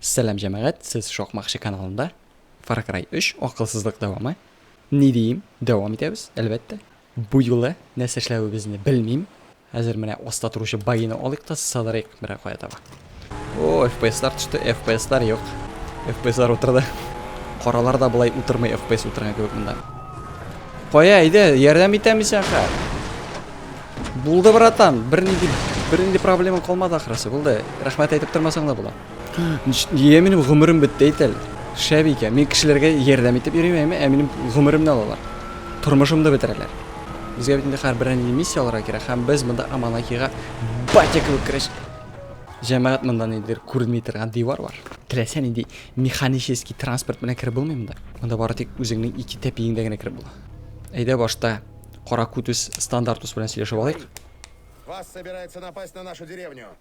Сәлам җәмәгать, сез шакмакчы каналында Far Cry 3, акылсызлык дәвамы. Ни диим, дәвам итәбез, әлбәттә. Бу юлы нәрсә эшләвебезне белмим. Хәзер менә аста торучы байны алыйк та сыдырыйк берәр кая таба. О, FPS-лар төште, FPS-лар юк. FPS-лар утырды. Каралар да болай утырмый FPS утырган кебек монда. Кая, әйдә, ярдәм итәм исән ха. Булды, братан, бернинди бернинди проблема калмады ахрысы. Булды. Рәхмәт әйтеп тормасаң да була. Нигә минем гомерем бетте әйт әле? Шәп икән. Мин кешеләргә ярдәм итеп йөрим, әйме, ә минем гомеремне алалар. Тормышымны бетерәләр. Безгә бит инде хәрберәр нинди миссия алырга кирәк, һәм без монда Аманакига батя кебек керәч. Җәмәгать монда нидер күренми торган дивар бар. Теләсә нинди механический транспорт белән кереп булмый монда. Монда бары тик үзеңнең ике тәпиеңдә генә кереп була. Әйдә башта Каракутус Стандартус белән сөйләшеп алыйк. Вас собирается напасть на нашу деревню.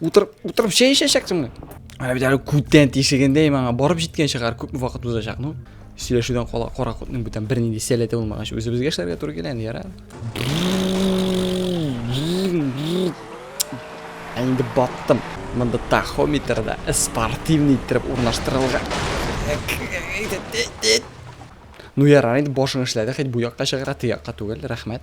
Утырып, утырып чәй эчәчәксеңме? Менә бит әле күптән тишегендә маңа барып җиткән шәһәр күпме вакыт узачак, ну. Сөйләшүдән кала каракутның бүтән бернинди сәләте булмагач, үзебезгә эшләргә туры килә инде, яра. Ә инде баттым. Монда тахометрда спортивный иттереп урнаштырылган. Ну ярар инде башың эшләде, хәт бу якка чыгара, ти якка түгел, рәхмәт.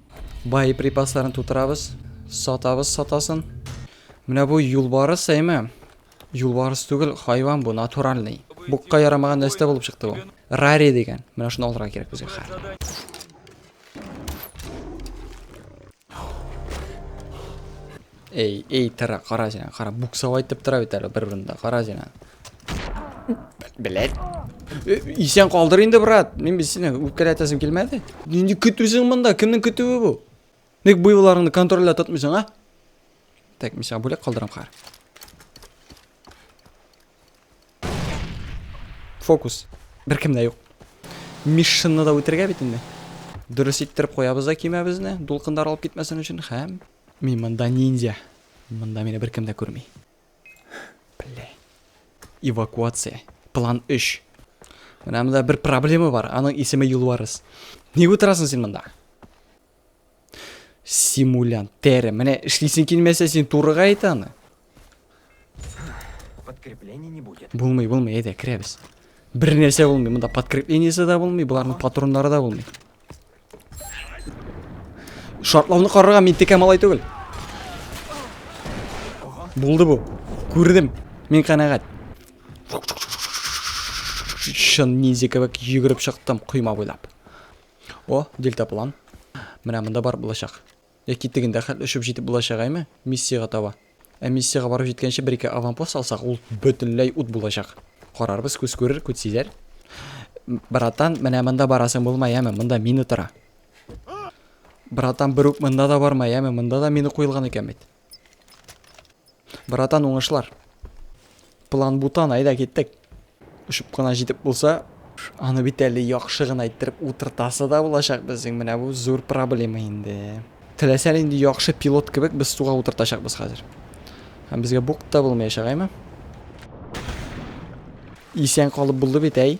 Боеприпасларын тутырабыз. Сатабыз сатасын. Менә бу юлбарыс әйме? Юлбарыс түгел, хайван бу, натуральный. Букка ярамаган нәрсә булып чыкты бу. Рари дигән. Менә шуны алырга кирәк безгә хәзер. Әй, әй, тыра, кара син, кара, буксау айтып тыра бит әле бер урында, кара син. Блять. Э, исән калдыр инде, брат. Мин без сине үткәрәтәсем килмәде. Нинди көтүсең монда? Кемнең көтүе бу? Ник буйларыңны контрольдә тотмыйсың, а? Так, мин сиңа бүләк калдырам, кара. Фокус. Бер кем дә юк. Мишшинны да үтергә бит инде. Дөрес иттереп куябыз да кимәбезне, дулкындар алып китмәсен өчен һәм Мин монда ниндзя. Монда мине беркем дә күрми. Бля. Эвакуация. План 3. Менә монда бер проблема бар. Аның исеме Юлварыс. Ник утырасың син монда? Симулянт, тәре. Менә эшлисең килмәсә, син турыга әйт аны. Подкрепление не будет. Булмый, булмый, әйдә, керәбез. Бер нәрсә булмый, монда подкреплениесе дә булмый, боларның патроннары да булмый. Шартлауны карарга мин текә малай түгел. Булды бу. Күрдем. Мин канәгать. Шын ниндзя кебек йөгереп чыктым койма буйлап. О, дельтаплан. Менә монда бар булачак. Яки тегендә хәтле очып җитеп булачагайме, миссиягә таба. Ә миссиягә барып җиткәнче бер-ике аванпост алсак, ул бөтенләй ут булачак. Карарбыз, күз күрер, күт сизәр. Братан, менә монда барасың булма, яме, монда мина тора. Братан, бер үк монда да барма, яме, монда да мина куелган икән бит. Братан, уңышлар. План бутан, әйдә киттек. Очып кына җитеп булса, аны бит әле яхшы гына иттереп утыртасы да булачак безнең. Менә бу зур проблема инде. Теләсә нинди яхшы пилот кебек без суга утыртачакбыз хәзер. Һәм безгә бук та булмаячак, әйме? Исән калып булды бит, әй.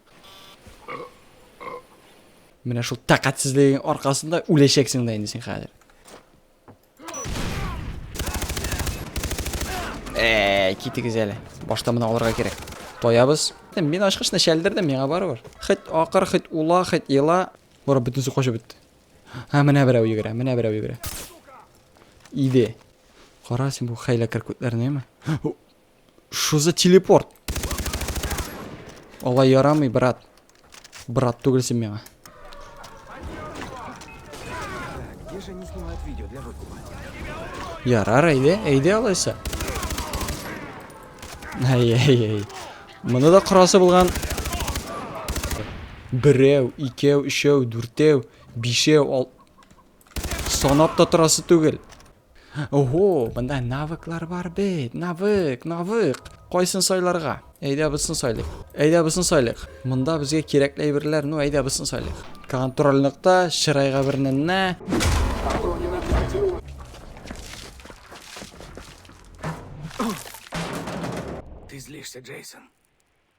Менә шул тәкатьсезлегең аркасында үләчәксең дә инде син хәзер. Әй, китегез әле. Башта моны алырга кирәк. Тоябыз. Мин ачкычны шәлдердем, миңа барыбер. Хит акыр, хит ула, хит ела. Бара бөтенесе качып бетте. Һә, менә берәү йөгерә, менә берәү йөгерә. Иде. Кара син бу хәйләкәр күтләрне, әйме? Что за телепорт? Алай ярамый, брат. Брат түгел син миңа. Ярар, әйдә, әйдә алайса. Ай, ай, ай. Моны да курасы булган. Берәү, икәү, өчәү, дүртәү, бишәү, ал... Санап та торасы түгел. Ого, монда навыклар бар бит. Навык, навык. Кайсын сайларга? Әйдә бусын сайлыйк. Әйдә бусын сайлыйк. Монда безгә кирәкле әйберләр, ну әйдә бусын сайлыйк. Контрольлыкта чырайга берненне. Ты злишься, Джейсон.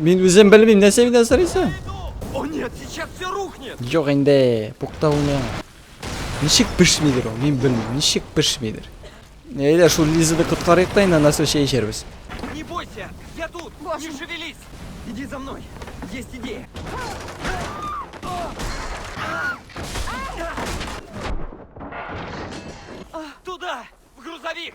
Мин үзем белмим, нәрсә миннән сорыйсың? О нет, сейчас все рухнет. Юк инде, пукта уйна. Ничек пешмидер ул? Мин белмим, ничек пешмидер. Әйдә, шул Лизаны коткарыйк та инде, аннан соң чәй эчәрбез. Не бойся, я тут. Не шевелись. Иди за мной. Есть идея. Туда, в грузовик.